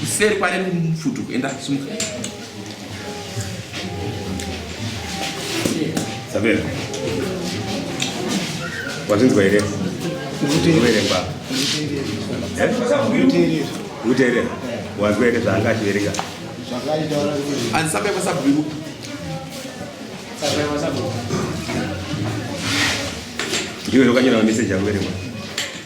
kuseri kware mfutu enda sumuka sabera wazvinzwa here kuverenga kuteerera wazwa here zvaanga achiverenga andisapekwa sabhuku ndiwe zvokanyora mameseji akuverengwa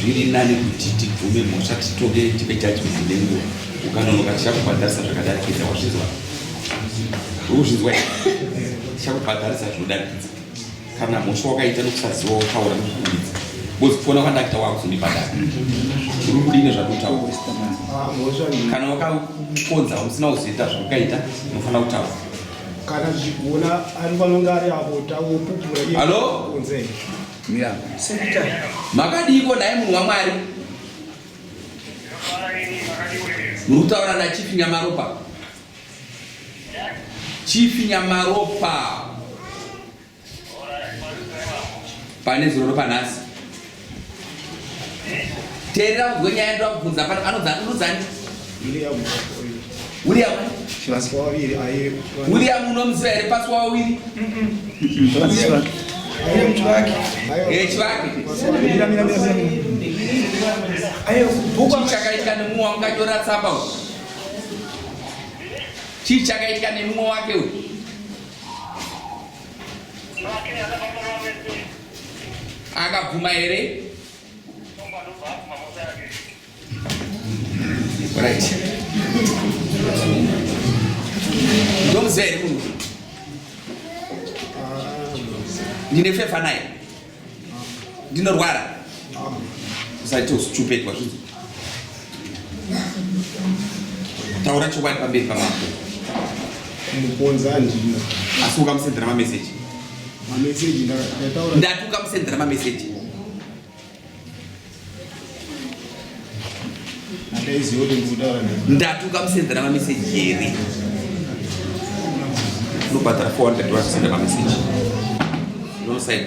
zviri nani kuti tibvume mhosva titoke tipe judgment nenguva ukanonoka tichakubhadharisa zvakadarikidza wazvinzwa ukuzvinzwa tichakubhadharisa zvinodarikidza kana mhosva wakaita nokusaziva wataura nokukumbidza bcoz kufona kwandakuita wakuzondibhadhara uri kudine zvakutaura kana wakakonza usina kuzoita zvaukaita unofanira kutaura kana zvichigona ari vanonge ari avo tawopupura iye Hello? kunze Mira. Makadiiko nhai munhu waMwari? Muri kutaura naChief Nyamaropa. Chief Nyamaropa. pane zuro ropanhasi teerera kuzwe nyaya yandira kubvunza pano anodzani william unomuziva here pasi wawawiri chichakaitika nemumwe wamukanyora tsamba u chichakaitika nemumwe wake uyu akabvuma here right ndomuziva here munhu ndine fefa naye ndinorwara usaite stupid wazvinzi taura chokwadi pamberi pamako muponza andina asi ukamusendera mameseji mameseji ndati ukamusendera mameseji ndatuka musenzera mameseji here unobhadhara 400 wazvisenda mameseji nosaid